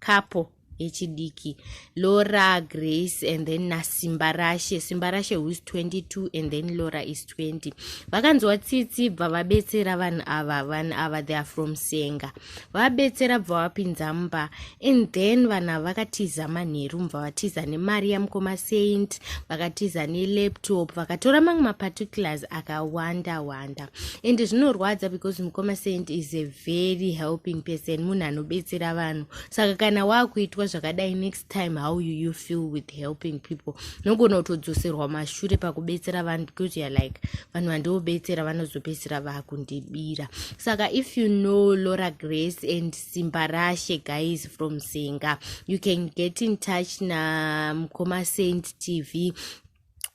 couple yechidiki laura grace and then nasimbarashe simbarashe who is 22 and then laura is 20 vakanzwa tsitsi bva vabetsera vanhu ava vanhu ava they are from senga vabetsera bva vapinza mumba and then vanhu ava vakatiza manheru mva vatiza nemari yamukoma saint vakatiza nelaptop vakatora mamwe maparticulars akawanda wanda and zvinorwadza because mukoma saint is a very helping person munhu anobetsera vanhu saka kana waakuitwa zvakadai next time how you, you feel with helping people nogona kutodzoserwa mashure pakubetsera vanhu because youare like vanhu vandiobetsera vanozobetsera vakundibira saka if you know laura grace and simba rashe guys from singa you can get in touch namukoma saint tv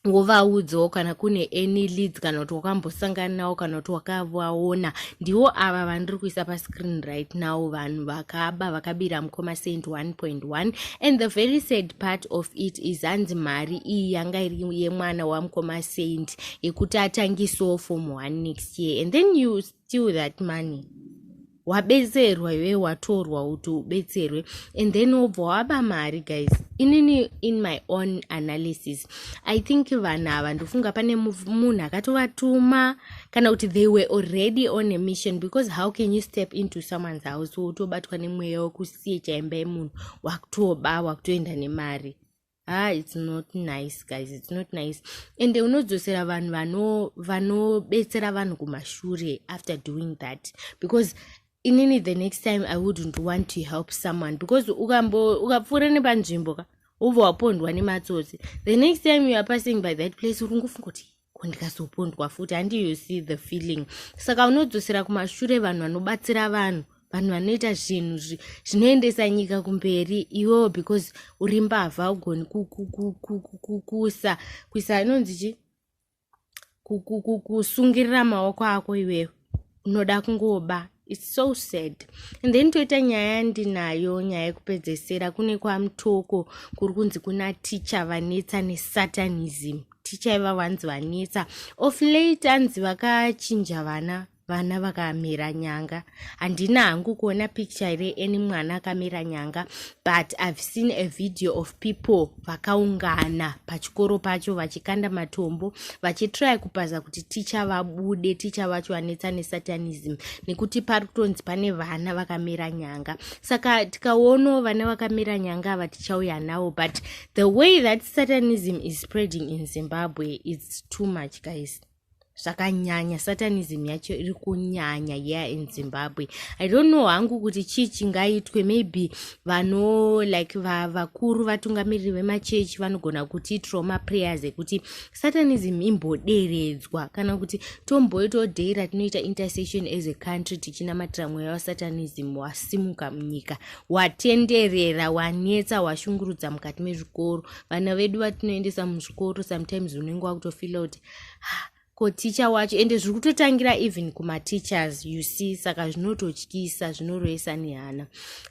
wovaudzawo kana kune any leads kana kuti wakambosangana nawo kana kuti wakavaona ndiwo ava vandiri kuisa pascreen right now vanhu vakaba vakabira mukoma saint 1.1 and the very sad part of it is hanzi mari iyi yanga iri yemwana wamukoma saint yekuti atangisawo form 1 next year and then you steal that money wabetserwa iwe watorwa kuti ubetserwe and then wobva waba mari guys inini in my own analysis i think vanhu ava ndofunga pane munhu akatovatuma kana kuti they were already on a mission because how can you step into someone's house wotobatwa nemweya wekusiye chaimba yemunhu wakutoba wakutoenda nemari ah it's not nice guys it's not nice ende unodzosera vanhu vano vanobetsera vanhu kumashure after doing that because inini the next time i wouldn't want to help someone because ukambo ukapfuura nepanzvimbo ka wobva wapondwa nematsotsi the next time you are passing by that place uri ngofunga kuti ko ndikazopondwa futi handi you see the feeling saka unodzosera kumashure vanhu vanobatsira vanhu vanhu vanoita zvinhu zvinoendesa nyika kumberi iwewo because uri mbavha ugoni kukusa kuisa inonzi chi kusungirira maoko ako iwewo unoda kungoba its so sad and then toita nyaya yandinayo nyaya yekupedzesera kune kwamutoko kuri kunzi kuna ticha vanetsa nesatanism ticha iva vanzi vanetsa of late anzi vakachinja vana vana vakamira nyanga handina hangu kuona picture ere any mwana akamira nyanga but i've seen a video of people vakaungana pachikoro pacho vachikanda matombo vachitry kupaza kuti ticha vabude ticha vacho vanetsa nesatanism nekuti pari kutonzi pane vana vakamera nyanga saka tikaonawo vana vakamera nyanga ava tichauya nawo but the way that satanism is spreading in zimbabwe its too much guys zvakanyanya satanism yacho iri kunyanya yeah in zimbabwe i don't know hangu kuti chii chingaitwe maybe vano like va, vakuru vatungamiriri vemachechi vanogona kuti trauma prayers ekuti satanism imboderedzwa kana kuti tomboitawo day ratinoita intercession as a country tichinamatira mweya wasatanism wasimuka munyika watenderera wanetsa washungurudza mukati mezvikoro vana vedu vatinoendesa muzvikoro sometimes unenge wakutofila kuti ko teacher wacho ende zviri kutotangira even kumateachers you see saka zvinototyisa zvinoroyesa nehana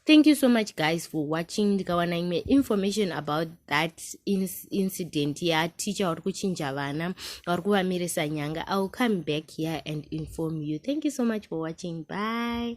thank you so much guys for watching ndikawana imwe information about that incident yateacher wari kuchinja vana wari kuvamirisa nyanga iwill come back here and inform you thank you so much for watching bye